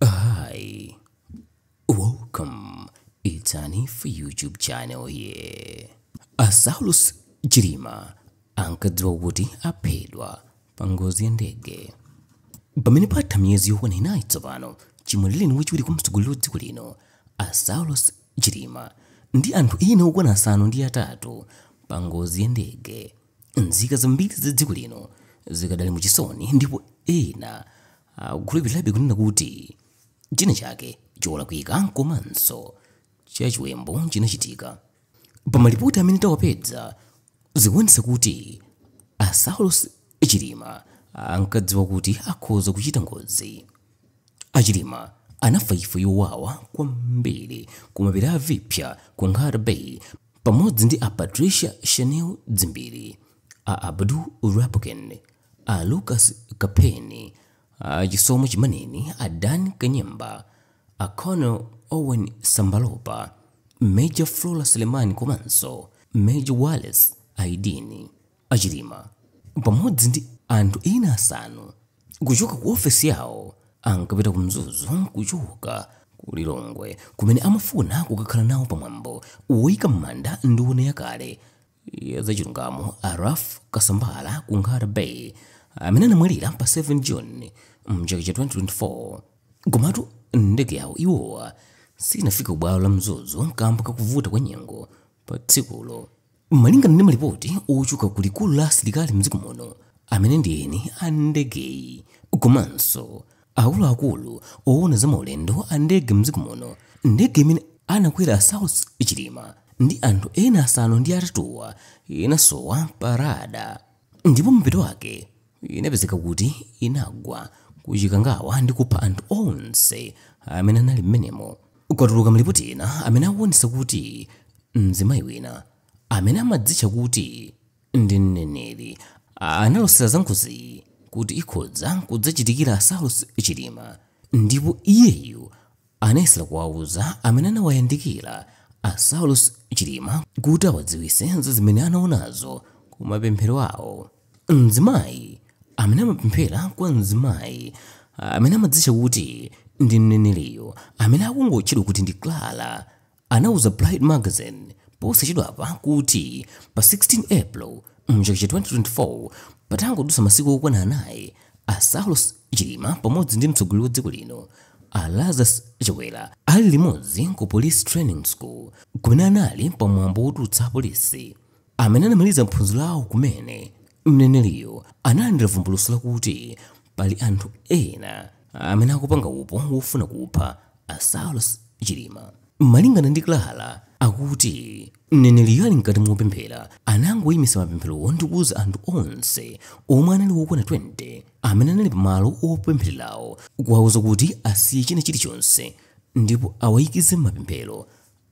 Hi, welcome. It's Hanif YouTube channel here. A Saulus Chilima ankadziwa kuti aphedwa pa ngozi ya ndege pamene patha miyezi yokwana inayi tsopano chimwalireni wachiwiri kwa mtsogoleri wa dziko lino a Saulos Chilima ndi anthu ena okwana asanu ndi atatu pa ngozi ya ndege nzika zambiri za dziko lino zikadali mu chisoni ndipo ena akukhulupirirabe kunena kuti china chake cholakwika komanso chachiwembu chinachitika. Pa malipoti amene tawapeza zikuonetsa kuti a Saulos Chilima ankadziwa kuti akhoza kuchita ngozi. A Chilima anafa imfa yowawa kwambiri ku mapiri a Viphya ku Nkhata Bay pamodzi ndi a Patricia Shanil Dzimbiri, a Abdul Lapukeni, a Lucas Kapheni, a Chisomo Chimaneni, a Dan Kanyemba, a Colonel Owen Sambalopa, Major Flora Selemani komanso Major Wallace Aidini. A Chilima pamodzi ndi anthu ena asanu kuchoka ku ofesi yawo ankapita ku Mzuzu kuchoka ku Lilongwe kumene amafuna kukakhala nawo pamwambo woyika m'manda nduna yakale ya zachilungamo a Ralph Kasambara ku Nkhata Bay amene anamwalira pa 7 June mchaka cha 2024. Komatu ndege yawo iwowa sinafike kubwalo la Mzuzu kamba kakuvuta kwa nyengo pa tsikulo. Malingana ndi malipoti ochoka ku likulu la asilikali mdziko muno amene ndi eni a ndegeyi komanso Akuluakulu owona za maulendo a ndege mdziko muno ndege imene anakwera Saulos Chilima ndi anthu ena asanu ndi atatuwa inasowa pa rada ndipo mapeto ake inapezeka kuti inagwa ku Chikangawa ndi kupha anthu onse amene anali mmenemo. Kwatuluka malipoti ena amene akuonetsa kuti mzimayi wina amene amadzitcha kuti. ndi mneneri analosera za ngoziyi kuti ikhoza kudzachitikira a saulos chilima ndipo iyeyu anayesera kuwauza amene anawayandikira a saulos chilima kuti awadziwise za zimene anaonazo ku mapemphero awo mzimayi amene amapemphera kwa mzimayi amene amadzitcha kuti ndi mneneriyo amene akungotchedwa kuti ndi clara anauza Pride Magazine posachedwapa kuti pa 16 April mchaka cha 2024 patangodutsa masiku okwana anayi a Saulos Chilima pamodzi ndi mtsogoleri wa dziko lino a Lazarus Chakwera ali limodzi ku Police Training School kumene anali pa mwambo wotulutsa apolisi amene anamaliza maphunziro awo kumene, mneneriyo analandira vumbulutso lakuti pali anthu ena amene akupanga upo wofuna kupha a Saulos Chilima. Malingana ndi Clara, akuti mneneriyo ali mkati mopemphera anangoyimitsa mapempherowo ndi kuuza anthu onse omwe anali wokwana 20 amene anali pamalo opemphererawo kuwauza kuti asiye china chilichonse ndipo awayikize m'mapemphero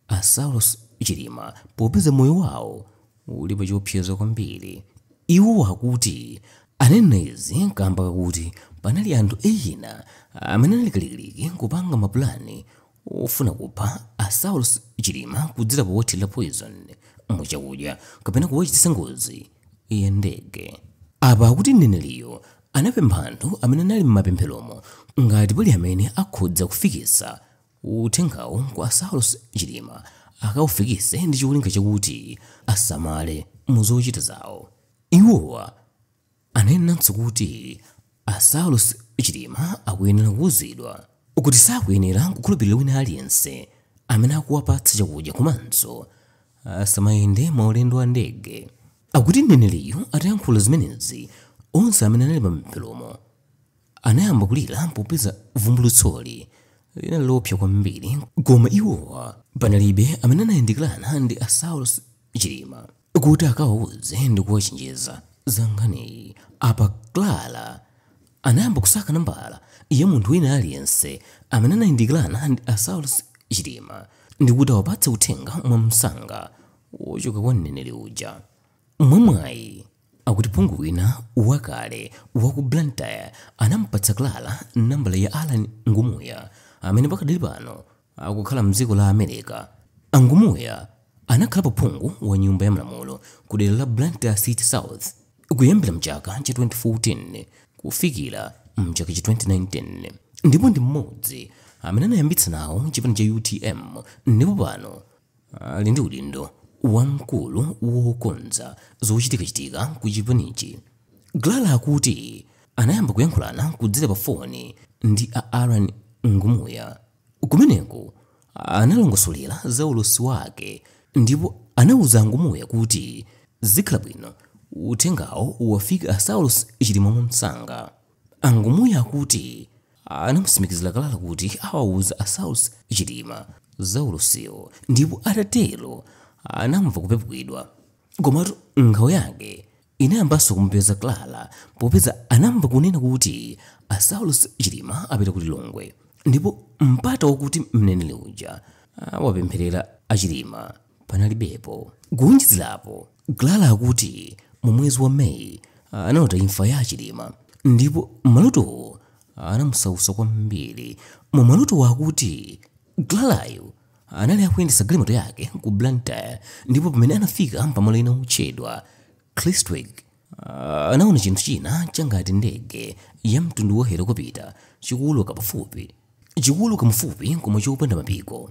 A Saulos Chilima popeza moyo wawo uli pa chiopsezo kwambiri. Iwo akuti ananena izi kamba kakuti panali anthu ena amene anali kalikiliki kupanga ma pulani ofuna kupha a Saulos Chilima kudzera powathilira poison mu chakudya kapena kuwachititsa ngozi ya ndege. Apa akuti mneneriyo anapempha anthu amene anali mmapempheromo ngati pali amene akhoza kufikisa Uthengawo kwa a Saulos Chilima akaufikise ndi cholinga chakuti asamale mu zochita zawo. Iwowa anenanso kuti a Saulos Chilima akuyenera kuuzidwa kuti sakuyenera kukhulupilira wina aliyense amene akuwapatsa chakudya komanso asamayende maulendo a ndege. Akuti mneneriyu atayankhula zimenezi, onse amene anali pa mapempherowo, anayamba kulira popeza vumbulutsoli linali loopsa kwambiri koma iwowa panalibe amene anayandikirana ndi a saulos chilima kuti akawauze ndi kuwachenjeza za nkhaniyi apa clara anayamba kusaka nambala ya munthu wina aliyense amene anayandikirana ndi a saulos chilima ndi kuti awapatse uthenga mwamsanga wochoka kwa mneneri uja mwamwayi Akuti phungu wina wakale wa ku Blantyre anamupatsa Clara nambala ya Allan Ngumuya amene pakadali pano akukhala mdziko la America. A Ngumuya anakhalapo phungu wa nyumba ya malamulo ku dera la Blantyre City South kuyambira mchaka cha 2014 kufikira mchaka cha 2019 ndipo ndi mmodzi amene anayambitsa nawo chipani cha utm ndipo pano ali ndi udindo wa mkulu wokonza zochitikachitika ku chipanichi. Clara akuti anayamba kuyankhulana kudzera pa foni ndi a Allan Ngumuya. Kumeneko analongosolera za ulosi wake ndipo anauza a Ngumuya kuti zikhala bwino uthengawo uwafika a Saulos Chilima mwamsanga. A Ngumuya akuti anamutsimikizila Clara kuti awauza a Saulos Chilima za ulosiwo ndipo atatelo anamva kupepukidwa. Komatu nkhawa yake inayambanso kumupeza Clara popeza anamva kunena kuti a Saulos Chilima apita ku Lilongwe ndipo mpata wakuti mneneli uja awapemphelele a Chilima. panalibepo. Kuwonjezerapo, Clara akuti mu mwezi wa May analota imfa ya a Chilima ndipo malotowo anamusautsa kwambiri. Mu malotowo akuti Clarayo anali akuyendetsa galimoto yake ku Blantyre ndipo pamene anafika pamalo ena otchedwa Kristwick anaona chinthu china changati ndege ya mtundu wa helokopita chikuuluka pafupi chikuuluka mufupi koma chopanda mapiko.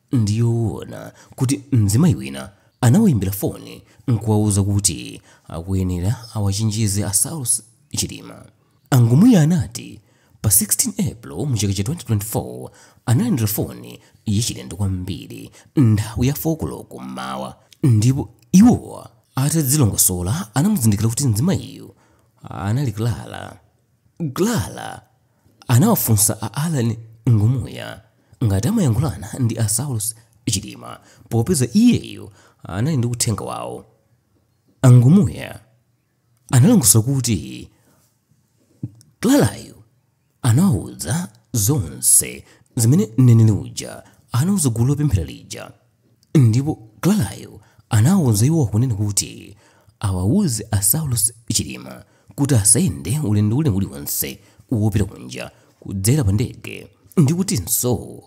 Ndi yoona kuti mzimayi wina anawaimbira foni n'kuwauza kuti akuyenera awachenjeze a Saulos Chilima. A Ngumuya anati, pa 16 April mu chaka cha 2024, analandira foni yachilendo kwambiri nthawi ya 4 koloko m'mawa ndipo iwo atadzilongosola anamuzindikira kuti mzimayiyu anali Clara. Clara. anawafunsa a Allan Ngumuya ngati amayankhulana ndi a Saulos Chilima popeza iyeyo anali ndi uthenga wawo. A Ngumuya analongosola kuti Clarayo anawauza zonse zimene mneneri uja anauza gulu lopemphera lija. Ndipo Clarayo anawauza iwowa kunena kuti awauze a Saulos Chilima kuti asayende ulendo uli uliwonse wopita kunja kudzera pa ndege ndi kutinso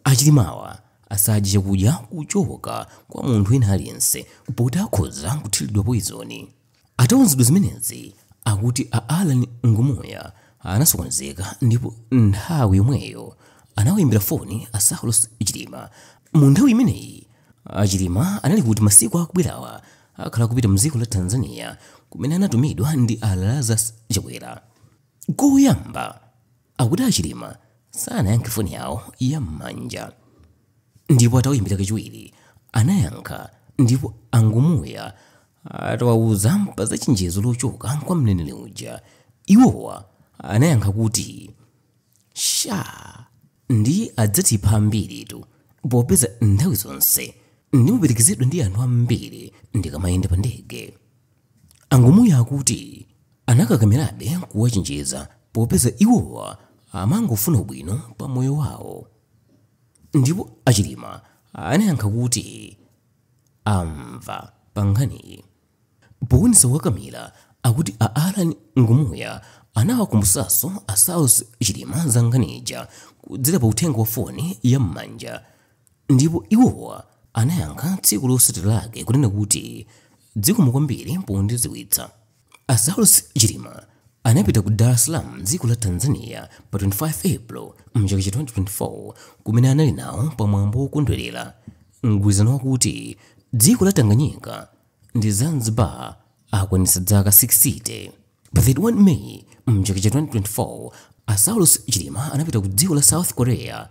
a Chilimawa asadye chakudya kuchoka kwa munthu wina aliyense poti akhoza kuthiridwa poizoni. Atauzidwa zimenezi akuti a Allan Ngumuya anasokonezeka ndipo nthawi yomweyo anawayimbira foni a Saulos Chilima. Mu nthawi imeneyi a Chilima anali kuti masiku akubwerawa akhala akupita mdziko la Tanzania kumene anatumidwa ndi a Lazarus Chakwera. Koyamba akuti a Chilima sanayankhe foni yawo ya m'manja ndipo atawaimbira kachiwiri anayankha ndipo a Ngumuya atawauza pa za chenjezo lochoka kwa mneneri uja iwowa anayankha kuti sha ndiye adzatipha ambiritu popeza nthawi zonse ndimaperekezedwa ndi anthu ambiri ndikamayenda pa ndege A Ngumuya akuti anakakamirabe kuwachenjeza popeza iwowa amangofuna ubwino pa moyo wawo ndipo a Chilima anayankha kuti amva pa nkhaniyi. Powonetsa kukakamira, akuti a Allan Ngumuya anawakumbutsanso a Saulos Chilima za nkhani ija kudzera pa uthenga wa foni ya m'manja ndipo iwowa anayankha tsiku lotsatira lake kunena kuti Dzikomo kwambiri pondidziwitsa. A Saulos Chilima anapita ku Dar es Salaam m'dziko la Tanzania pa 25 April m'chaka cha 2024 kumene anali nawo pa mwambo wokondwerera mgwirizano wakuti dziko la Tanganyika ndi Zanzibar akwanitsa dzaka 60. Pa 31 May m'chaka cha 2024, a Saulos Chilima anapita ku dziko la South Korea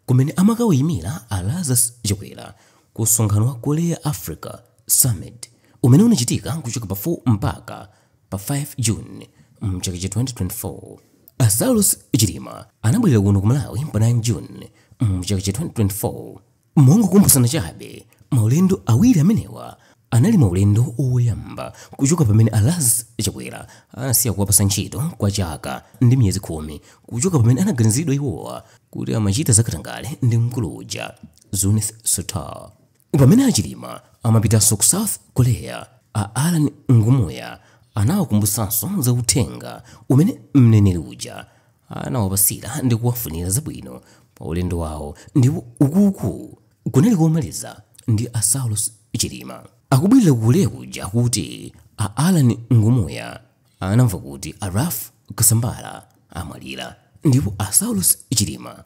kumene amakawayimira a Lazarus Chakwera ku msonkhano wa Korea-Africa Summit umene unachitika kuchoka pa 4 mpaka pa 5 June mchaka cha 2024. A Saulos Chilima anabwerera kuno ku Malawi pa 9 June mchaka cha 2024. Mongokumbutsana chabe, maulendo awiri amenewa anali maulendo oyamba kuchoka pamene a Lazarus Chakwera anasiya kuwapasa ntchito kwa chaka ndi miyezi khumi kuchoka pamene anaganiziridwa iwowa kuti amachita zakatangale ndi mkulu uja Zuneth Sattar. Pamene a Chilima amapitanso ku South Korea, a Alan Ngumuya anawakumbutsanso za uthenga umene mneneri uja anawapasira ndi kuwafunira zabwino pa ulendo wawo ndipo ukuku kunali komaliza ndi a Saulos Chilima akubwerera ku Korea kuja kuti a Alan Ngumuya anamva kuti a Ralph Kasambara amwalira ndipo a Saulos Chilima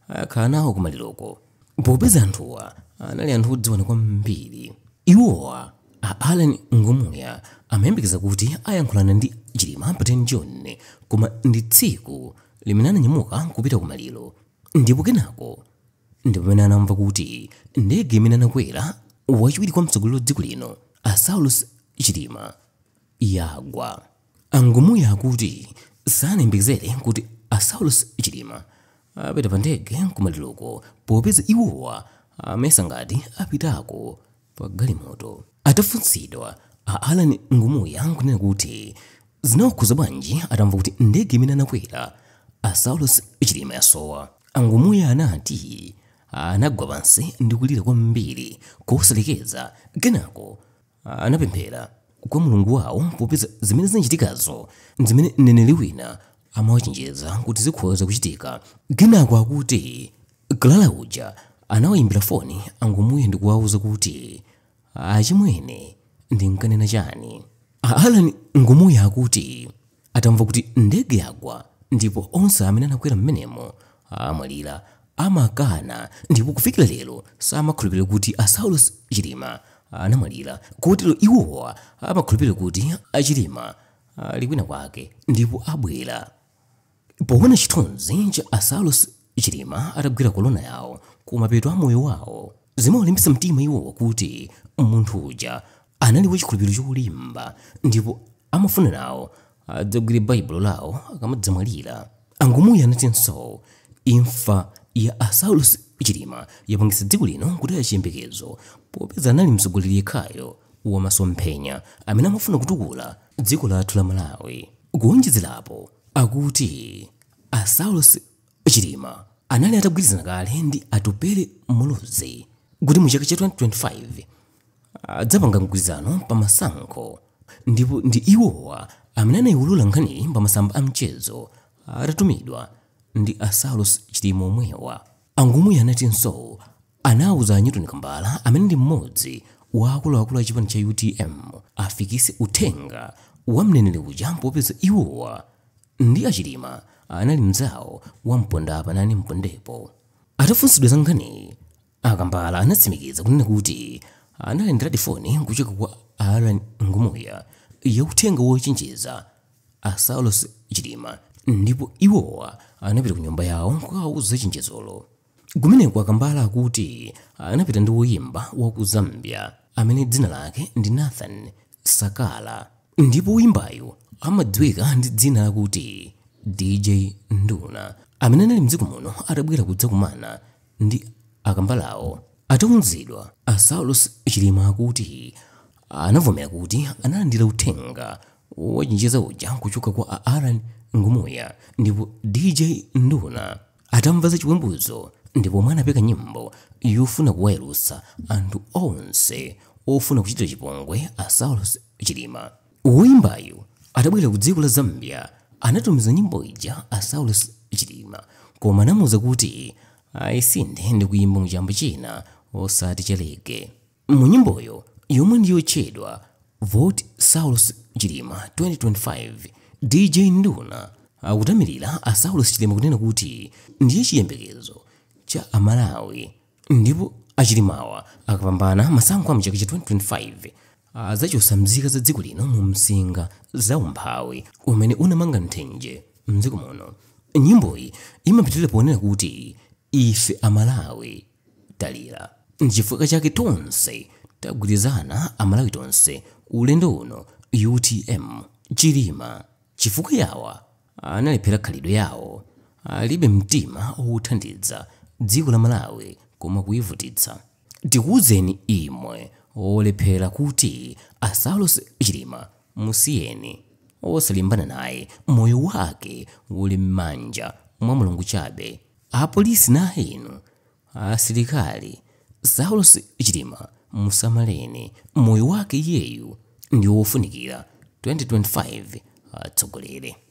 akhala nawo kumaliroko. Popeza anthuwa anali anthu odziwana kwambiri, iwowa a Allan Ngumuya amayembekeza kuti ayankhulana ndi Chilima pa 10 June koma ndi tsiku limene ananyamuka n'kupita kumaliro ndipo kenako ndi pamene anamva kuti ndege imene anakwera wachiwiri kwa mtsogoleri wa dziko lino a Saulos Chilima yagwa. A Ngumuya akuti sanayembekezere kuti a Saulos Chilima apita pa ndege kumaliroko popeza iwowa amayesa ngati apitako pa galimoto. Atafunsidwa, a Allan Ngumuya n'kunena kuti zinawakhudza bwanji atamva kuti ndege imene anakwera a Saulos Chilima yasowa, a Ngumuya anati anagwa pansi ndi kulira kwambiri kosalekeza kenako anapemphera kwa mulungu wawo popeza zimene zinachitikazo ndi zimene mneneri wina amawachenjeza kuti zikhoza kuchitika kenako akuti clara uja anawayimbira foni a ngumuya ndi kuwawuza kuti achimwene ndinkanena chani alan ngumuya akuti atamva kuti ndege yagwa ndipo onse amene anakwera mmenemo amwalira amakana ndipo kufikira lero samakhulupirira kuti a saulos chilima anamwalira kotero iwowa amakhulupirira kuti a chilima ali kwina kwake ndipo abwera poona chithunzi cha a saulos chilima atagwira kolona yawo kumapeto a moyo wawo zimawalimbitsa mtima iwowa kuti munthu uja anali wachikhulupiriro cholimba ndipo amafuna nawo adzagwire baibulo lawo akamadzamwalira angumuyi anatinso imfa ya asaulos chilima yapangitsa dziko lino kutaya chiyembekezo popeza anali mtsogoleri yekhayo wa masomphenya amene amafuna kutukula dziko lathu la malawi kuonjezerapo akuti asaulos Chilima anali atagwirizana kale ndi Atupele Muluzi kuti mu chaka cha 2025 adzapanga mgwirizano pa masankho ndipo ndi iwowa amene anayiwulula nkhaniyi pa masamba a mchezo atatumidwa ndi a Saulos Chilima omwewa. Angumuya anatinso anauza a Newton Kambala amene ndi mmodzi wa akuluakulu a chipani cha utm afikise uthenga wa mneneri uja popeza iwowa ndi a Chilima anali mnzawo wa pondapa nane mpondepo. Atafunsidwa za nkhaniyi, a Kambala anatsimikiza kunena kuti analandiradi foni kuchoka kwa a Allan Ngumuya ya uthenga wochenjeza a Saulos Chilima ndipo iwowa anapita ku nyumba yawo kukawauza chenjezolo. Kumeneko akambala akuti anapita ndi woyimba wa ku Zambia amene dzina lake ndi Nathan Sakala ndipo woyimbayu amadziwika ndi dzina lakuti DJ Nduna amene anali mdziko muno atabwera kudzakumana ndi akambalawo. Atauzidwa, a Saulos Chilima akuti anavomera kuti analandira uthenga wochenjeza uja kuchoka kwa a Allan Ngumuya ndipo DJ Nduna atamva za chiwembuzi ndi pomwe anapeka nyimbo yofuna kuwayalutsa anthu onse ofuna kuchitira chipongwe a saulos chilima woyimbayu atabwerera ku dziko la zambia anatumiza nyimbo ija kwa a saulos chilima koma anamuwuza kuti ayisinthe ndi kuyimba mu chamba china osati cha reggae Mu nyimboyo yomwe ndi yotchedwa Vote Saulos Chilima 2025, DJ Nduna akutamirira a Saulos Chilima kunena kuti ndiye chiyembekezo cha Amalawi ndipo a Chilimawa akapambana masankho a mchaka cha 2025 adzachotsa mzika za dziko lino mu msinga za umphawi umene unamanga nthenje mdziko muno. Nyimboyi imapitirira ponena kuti ife Amalawi Talira. Nchifukwa chake tonse tagwirizana amalawi tonse ulendo uno utm chilima chifukwa yawa analephera khalidwe yawo alibe mtima othandiza dziko la malawi koma kuivutitsa tikuuzeni imwe olephera kuti a saulos chilima musiyeni osalimbana naye moyo wake uli mmanja mwa mulungu chabe Apolisi na inu asilikali Saulos Chilima musamaleni moyo wake iyeyu ndi wofunikira 2025 atsogolere.